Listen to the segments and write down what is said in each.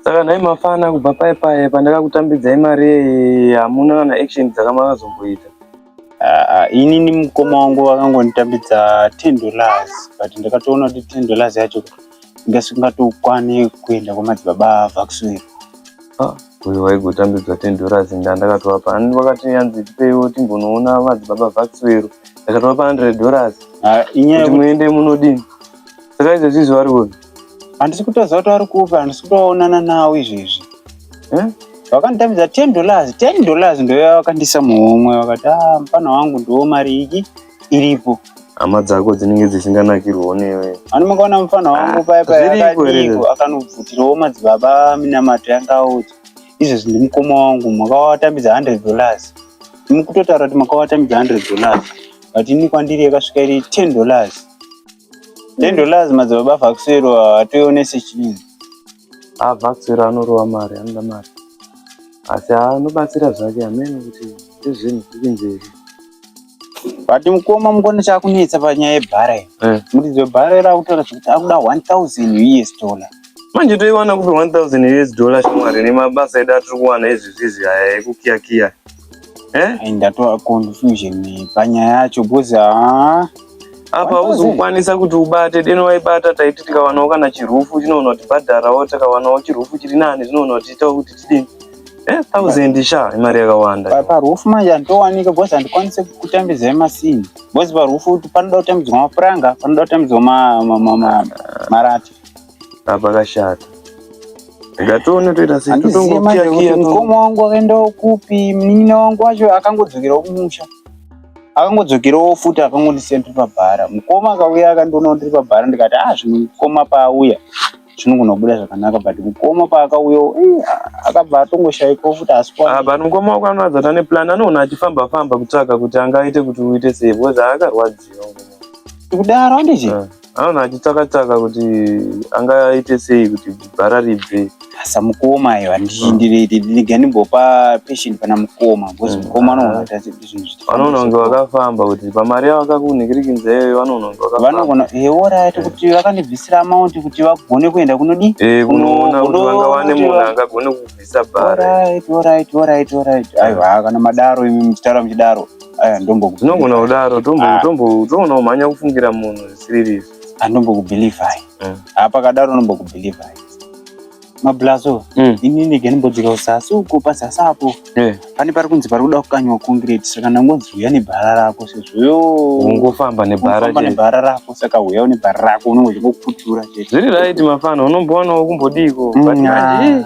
Saka nhai mafana kubva paye paye pandakakutambidzai mari yeyi hamuna kana action dzakamakazomboita. Haa inini mukoma wangu vakangonditambidza 10 dollars but ndakatoona kuti 10 dollars yacho ndingasingatokwane kuenda kwamadzibaba avhakuswero. Ah, uyu waigotambidzwa 10 dollars ndandakatovapa ani vakati yanzi tipeiwo timbonoona madzibaba vhakuswero ndakatovapa 100 dollars Ah, inyaya kuti yekuti muende munodini saka izvezvi izvi vari kupi handisi kutoziva kuti vari kupi handisi kutoonana nawo izvezvi eh? vakanditambidza ten dollars ten dollars ndoya vakandisa muhomwe vakati ah, mfana wangu ndiwo mari iki iripo hama dzako dzinenge dzisinganakirwawo newe ani makaona mufana wangu ah, paya payaakaniko akanobvutirawo madzibaba minamato yanga auti izvezvi ndi mukoma wangu makawatambidza hundred dollars mukutotaura kuti makawatambidza hundred dollars but ini kwandiri yakasvika iri ten dollars Tendo lazi madzibaba vakusero hatiwonesi chinyi. Ah vakusero anorova mari anoda mari. Asi anobatsira zvake hameno kuti ndezvinhu zvikinzeri. But mukoma mukona chakunetsa panyaya yebhara iyi. Eh. Muridzi webhara iri akutaura kuti akuda 1000 US dollar. Manje toiwana kupi 1000 US dollar shamwari nemabasa edu atiri kuwana ezvizvizvi aya ekukiya kiya. Eh? Ndatova confusion panyaya yacho because haa. apa hauzokwanisa kuti ubate deno waibata taiti tikawanawo kana chirufu chinoona kuti bhadharawo takawanawo chirufu chiri nani zvinoona kuti itawo kuti tidini eh, thousand sha imari yakawanda parufu manje handitowanika bcause handikwanise kutambidza emasini bcause parufu panoda kutambidzwa mapuranga panoda kutambidzwa marata apa kashata ndatoona toita sei totongokiyakiya mukoma wangu akaendawo kupi munin'ina wangu wacho akangodzokerawo kumusha akangodzokerawo futi akangondisiya ndiri pabhara mukoma akauya akandionawo ndiri pabhara ndikati ah zvinhu mukoma paauya zvinogona kubuda zvakanaka but mukoma paakauya eh, akabva atongoshaikwa futi asi ah, but mukoma wako anoratidza kuti ane plan anoona achifamba famba kutsvaga kuti angaite kuti uite sei because akarwadziwa kudaro andizvi ah. aona achitsakataka kuti angaite sei kuti bhara ribve asa mukoma aiwa ndiga ndimbopa patient pana mukoma because mm. mukoma anoona vanoona kunge vakafamba kuti pamari yavo vakakunhikirikinza iyoyo vanoona kunge vanogona eorati kuti vakandibvisira amaundi kuti vagone kuenda kunodii eh, kunoona kuti vanga vane munhu angagone kubvisa bhara aiwa kana madaro imi muchitaura muchidaro aya ndombokuzvinogona kudaro tomboutomboutogona ah. kumhanya kufungira munhu zvisiriri andombokubhilivhai ah, mm. ah, pakadaro ndombokubhilivhai mablazo mm. ini nege ndimbodzika kuzasi uko pazasi apo eh. pane pari kunzi pari kuda kukanywa concrete saka ndangonzi huya nebhara rako sezvoyo ungofamba nebhara rako saka huya une bhara rako unenge uchingokuputura zviri right mafana unombowanawo kumbodiiko mm,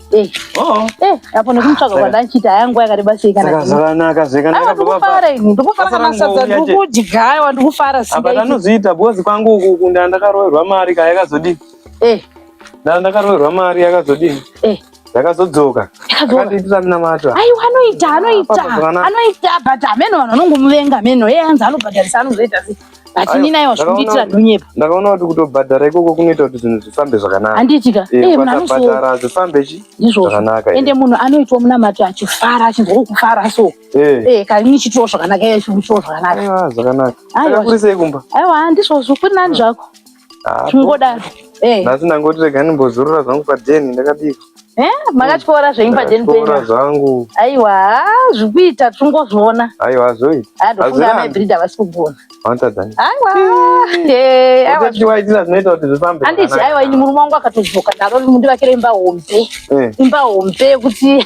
Eh, oh. eh, apo nekumutsvaga kwandandichiita haya nguva yakareba sei kanandikufara ini ndikufara kana sadza ndikudya aiwa ndikufara apa tanozviita because kwangu ukuku ndaa ndakaroverwa mari ka yakazodii eh. ndaa ndakaroverwa mari yakazodii yakazodzoka akatiitira minamato aiwa anoita anoita anoita but ameno vanhu vanongomuvenga ameno ye anzi anobhadharisa anozoita sei asi nina iwa zvindiitira dunyepa ndakaona kuti kutobhadhara ikoko kunoita kuti zvinhu zvifambe zvakanaka handiitika eh, eh, munhuatabhadhara zvifambe chi zvakanaka ende munhu anoitwa munamato achifara achinzwa kukufara so eh. eh kani ichitiwo zvakanaka iye chimuchiwo zvakanaka zvakanaka akakurisei kumba aiwa handizvozvo kuri nani zvako chingodaro eh. nhasi ndangoti rega ndimbozorora zvangu padeni ndakadiko eh, makatyora zvenyu padeni pena zvangu aiwa zvikuita tingozviona aiwa zoi andofunga mai brida vasi kugona anditi aiwa ini murume wangu akatodzoka naro ndivakire imba hombe imba hombe yekuti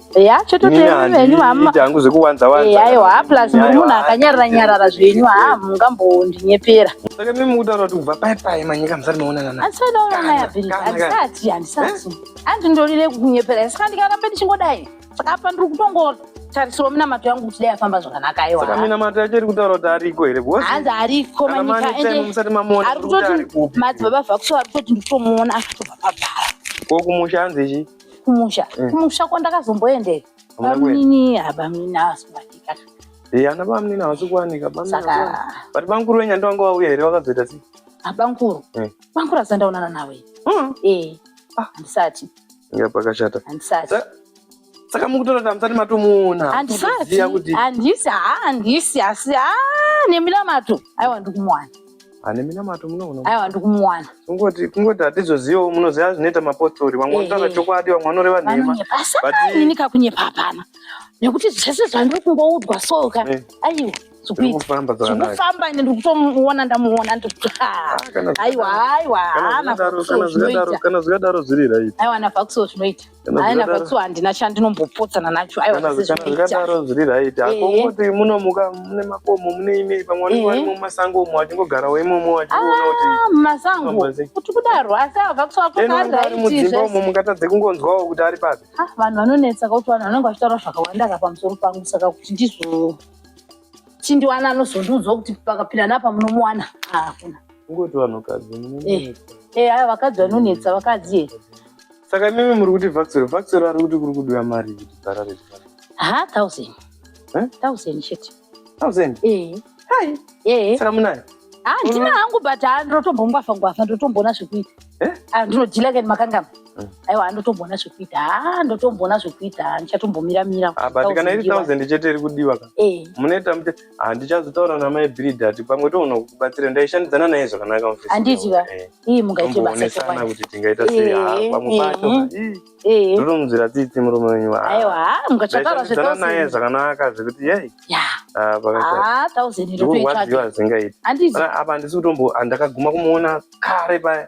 ya chototoevenyu hama hangu zvekuwanza wanza eh, aiwa plus muri munhu akanyarara nyarara zvenyu ha mungambondinyepera saka mimi mukutaura kuti kubva pai pai manyika musati maonana na asi ndaona naye abiri handisati handisati eh? handi ndodire kukunyepera saka ndikarambe ndichingodai saka apa ndiri kutongora tarisiro minamato yangu kuti dai afamba zvakanaka aiwa saka minamato yacho iri kutaura kuti ariko here hanzi ariko manyika ende musati mamuona ari kutoti madzibaba vakuso ari kutoti ndikutomuona akatobva pabhara ko kumusha hanzi chii kumusha mm. kumusha kwandakazomboendera bamnini abamnini avasibatika eh, ana bamnini havasi kuwanika saka but bamkuru wenyu andi vanga vauya here vakazoita sei abankuru ah, eh. bankuru asi andaonana nawe mm. eh, ah. handisati nga pakashata handisati saka mukutora kuti hamusati matomuona handisati handisi handisi asi a ah, neminamato aiwa ndikumuwana ane minamato munoona aiwa ndikumuwana kungoti kungoti hatizozivawo munoziva zvinoita mapostori vamwe vanotaura eh, eh. chokwadi vamwe vanoreva nhema ini kakunyepa hapana nekuti zvese zvandiri kungoudzwa soka eh. aiwa zvekufamba ine ndiri kutomuona ndamuona ndikutiaiwa ah, aiwa haana kana zvikadaro zviri right aiwa nabva kuso zvinoita aina vatsu handina chandinombopotsana nacho aiwazvikadaro zviri right ako ungoti munomuka mune makomo mune imei pamwe wanenge wari mumasango umo achingogaravo imomo wachiona kuti ah, masango kuti kudaro asi ava vatsuaari mudzimba umo mungatadze kungonzwawo kuti ari papi ah, vanhu vanonetsa kakuti vanhu vanenge vachitaura zvakawanda ka pamusoro pangu saka kuti ndizo chindiwana anozondiudzawo kuti pakapinda napa munomuwana ah, hakuna kungoti vanhukadzi eh, eh, vakadzi vanonetsa vakadzi e saka imimi muri kuti vaxero vaxero ari kuti kuri kudiwa mari kuti bhara rezvipara ha thousand eh? thousand shit thousand eh hai eh saka munayo ah ndina hangu but androtombongwafa ngwafa ndotombona zvekuita eh ah, ndinodila kani makangama eh. aiwa andotombona zvekuita ha ah, ndotombona zvekuita ndichatombomira mira ah, but kana iri thousand chete iri kudiwa ka eh munoita handichazotaura ah, namai brid ati pamwe toona kukubatsira ndaishandidzana naye zvakanaka handiziva eh. ii mungaite basaonesana kuti tingaita sei eh, pamwe eh, pacho ndotomunzwira mm. tsitsi murume wenyu aaiwamungatsvakaashandizana naye zvakanaka zvekuti yei pakaaurwadziwa ah, zingaiti apa handisi kutombo handakaguma kumuona kare paya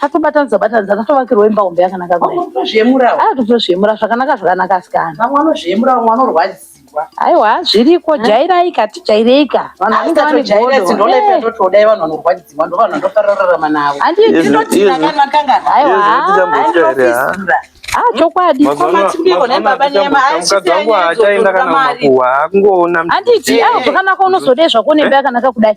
atobatanidza batanidza akatovakirwa imba hombe yakanaka kudaiazviyemurawo ah, zvakanaka zvakanaka asikana vamwe vanozviyemura vamwe vanorwadziwa aiwa zviriko eh? jairai kati jaireika vanhuaotoodai vanhu vanorwadziwa ndo vanhu vandofarararama navo aiwa Ah, hmm? chokwadi akungoona handiti ah, zvakanaka unozodei zvako nembe akanaka kudai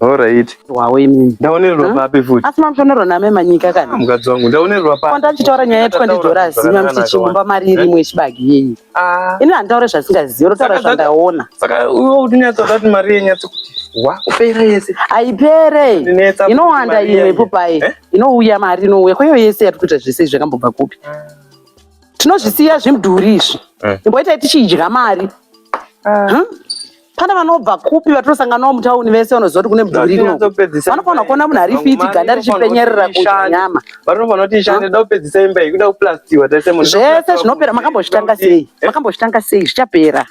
Alright. Wawo imimi. Ndaonerwa papi futi? Asi mamfonerwa name manyika kana. Mukadzi wangu ndaonerwa papi? Kwanda chitaura nyaya yetwa ndidora zima mti chimumba mari iri imwe chibagi yeyi. Ah. Ini handaure zvasingazivi rotaura zvandaona. Saka uyo utinyatsa dati mari yenyatsa kuti wa kupera yese. Haipere. Inowanda imwe pupai. Eh? Inouya mari inouya kwayo yese yatikuita zvese zvakambobva kupi. Ah. Tinozvisiya zvimduri izvi. Eh. Imboita tichidya mari. Ah. Huh? Pana vanobva kupi vatinosanganawo mutauni vese vanoziva kuti kune mudhuri inoku. Vanofanira kuona munhu ari fiti ganda richipenyerera kudya nyama. Vanofanira kuti ishande kuda kupedzisa imba iyi kuda kuplastiwa tese munhu. Zvese zvinopera makambozvitanga sei? Makambozvitanga sei zvichapera?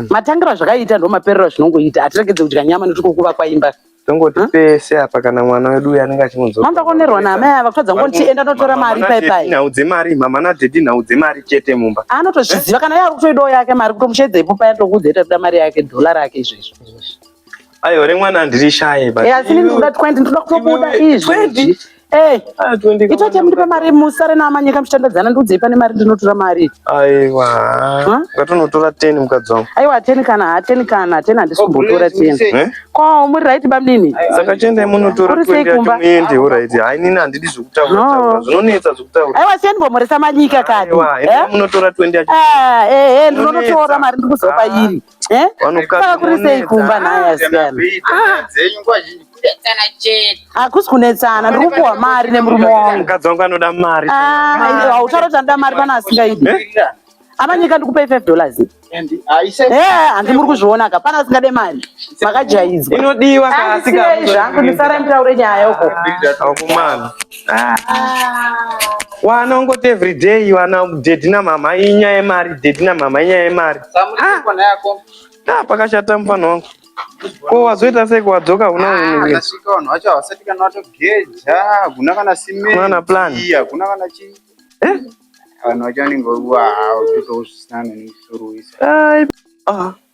Matangira zvakaita ndomaperera zvinongoita. Hatiregedze kudya nyama nekuti kuri kuvakwa imba. Tongoti Huh? pese apa kana mwana wedu uyu anenge achimudzoka. Mamba konerwa naamai ava kutadza kungoti enda notora Mama mari naDaddy paipai. Nhau dzemari, mama nadhedhi nhau dzemari chete mumba. Anotozviziva kana yaari kutoidawo yake mari kutomusheedza ipo paya tokuudza ita kuda mari yake dhola rake izvezvi. Ayo remwana handirishaye but. Eh, asi ini ndikuda 20 ndikuda kutobuda izvi. Hey, ita kuti mundipe mari musare na amanyika muchitandadzana ndiudzei pane mari ndinotora mari. Aiwa. Huh? Ngatonotora 10 mukadzi wangu. Aiwa 10 kana ha 10 kana 10 handisumbotora 10. Eh? Ko muri right bamnini? Saka chendai munotora 20 yacho muende ho right. Hai nini handidi zvokutaura taura. Zvinonetsa zvokutaura. Aiwa siyani bomoresa manyika kadi. Aiwa, eh? munotora 20 yacho. Ah, eh eh ndinotora mari ndikuzopa iri. Eh? Saka kuri sei kumba naye asikana? Hakusi kunetsana, ndiri kupuwa mari nemurume wangu. Mukadzi wangu anoda mari. Ah, hautaura kuti anoda mari pana asingaidi. Eh? Amanyika ndikupei 5 dollars. Eh, hanzi muri kuzviona ka pana asingade mari. Makajaidzwa. Inodiwa ka asika. Zvangu ndisara mtaure nyaya uko. Akumana. wana ungoti everyday wana dedi namama inyaya yemari dedi namama inyaya yemari ah, pakashata mufana wangu ko wazoita sei kuwadzoka huna unana plan eh? vanhu vacho vanenge vauwa hauzvitousisananisuruvisa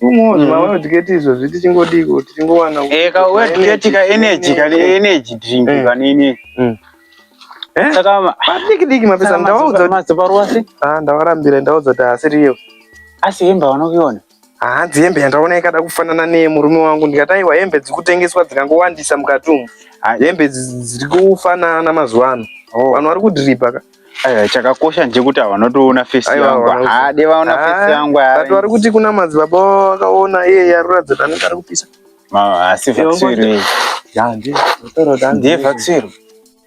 Umozi mama wetiketi izvo zviti chingodiko tichingowana. Eh ka wetiketi ka energy ka energy drink eh. ka nini. Mm. Eh? Saka padiki diki mapesa ndaudza madziparwa si. Ah ndawarambira ndaudza kuti asiriyo. Asi hemba wanokiona. hanzi hembe yandaona ikada kufanana neyemurume wangu ndikati aiwa hembe dziri kutengeswa dzikangowandisa mukati umu hembe dziri kufanana mazuva ano oh. vanhu vari kudhiripa ka Aiwa chakakosha ndechekuti ava vanotoona face Aiwa, yangu vanoona. haade vaona Ah, face yangu but haade. vari kuti kuna madzibaba wavo vakaona iye yaruradza kuti anenge ari kupisa Ma- asi Iwe vaksiro ungonzi- iyi. ya ndiye otora kuti hanzi- ndiye vaksiro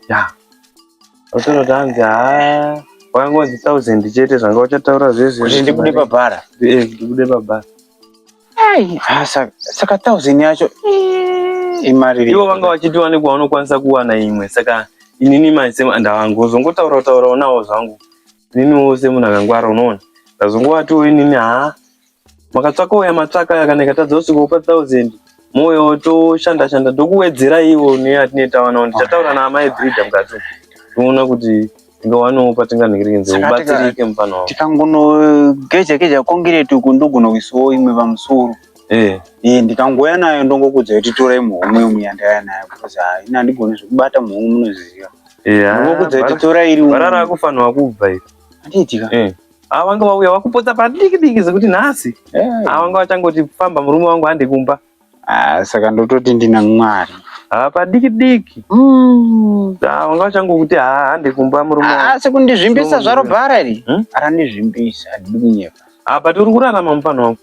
ya otora kuti hanzi haa wakangonzi thousand chete zvanga uchataura kuti zvezve ndikude pabhara ndikude pabhara Ai, ah, sa- saka thousand yacho eh, imari ivo vanga vachiti vane kwavanokwanisa kuwana imwe saka inini manje sema ndavangozongotaura taurawo navo zvangu ininiwo semunhu akangwara unoona ndazongovatiwo inini haa makatsvaka uya matsvaka aya kana ikatadza kusvikopa thousand mouyawo toshanda shanda ndokuwedzera ivo neyatinetawana ndichataura naamai brida mukati umu. toona kuti tingawanawo patinganhikirinze ubatsirike mufana wavo tikangonogeja geja kongireti uku ndogona kuisawo imwe pamusoro eh. eh, ndikangouya nayo ndongokudza kuti torai muhomwe umwe yandaya nayo because haina handigoni zvekubata muhomwe munoziva eh, ndongokudza kuti torai iri umweara rakufanirwa kubva iri andiitika eh. avanga ah, vauya vakupotsa padiki diki zekuti nhasi avanga ah, vachangoti famba murume wangu handi kumba Ah, saka ndototi ndina mwari Ah, padiki diki mm. Ah, wanga uchangokuti haa hande kumba murume wangu. asi kundizvimbisa No, zvaro no. bhara iri Hmm? ranizvimbisa handidi kunyepa Ah, but uri kurarama mufana wangu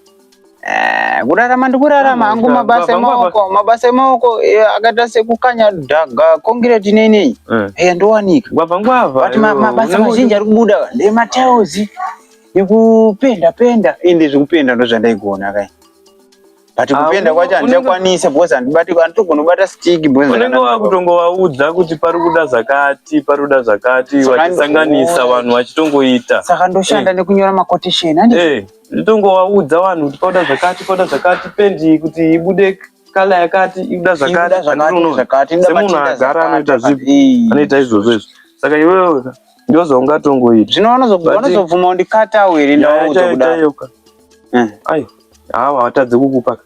Eh, kurarama ndikurarama Ah, hangu mabasa baba, baba. emaoko mabasa emaoko eh, akaita sekukanya dhaga kongireti nei nei Eh. eya ndowanika gwavha ngwavha but ma- iwe, mabasa unenge mazhinji ari kubuda ndemataiuzi nekupenda penda ende zvekupenda ndozvandaigona kai but ah, kupenda kwacho handichakwanise because handitogona kubata stiki unenge wakutongovaudza kuti pari kuda zvakati pari kuda zvakati vachisanganisa vanhu vachitongoita saka ndoshanda eh. nekunyora maquotation eh, nditongovaudza vanhu kuti pauda zvakati pauda zvakati pendi kuti ibude kala yakati ikuda zvakati semunhu agara anoita zvipi anoita izvozvo izvo saka iwewe ndozvaungatongoita zvino vanozobvuma undikatawo here ndauudza kudai Hawa hawatadze kukupa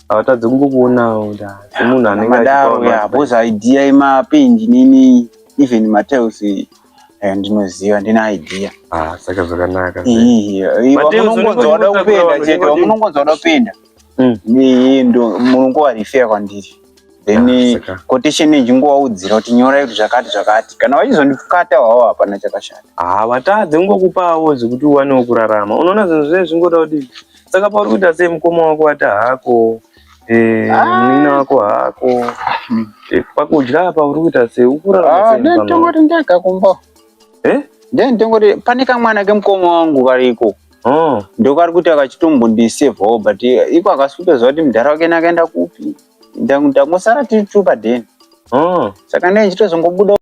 hawatadze kungokuonawo da semunhu anenge madaro ya boss idea imapendi nini even matiles eh, ndinoziva ndina idea ah saka zvakanaka munongonzwa wada kupenda chete munongonzwa wada kupenda mm. ndo munongowa refer kwandiri then eh, quotation iji ngowaudzira kuti nyorai kuti zvakati zvakati kana vachizondifukata hwawo hapana chakashata ah vatadze kungokupawo zvekuti uwanewo kurarama unoona zvinhu zve zvingoda kuti saka pauri kuita sei mukoma wako wati hako eh, ah. munin'ina wako hako eh, pakudya apa uri kuita sei ukurarama ah, ndinotongoti ndega kumba ndinotongoti pane kamwana kemukoma wangu kariko oh ndokari kuti akachitombondisevhawo but iko akasi kutoziva kuti mudhara wake nakaenda kupi ndangosara tiri two padeni oh saka ndee ndichitozongobuda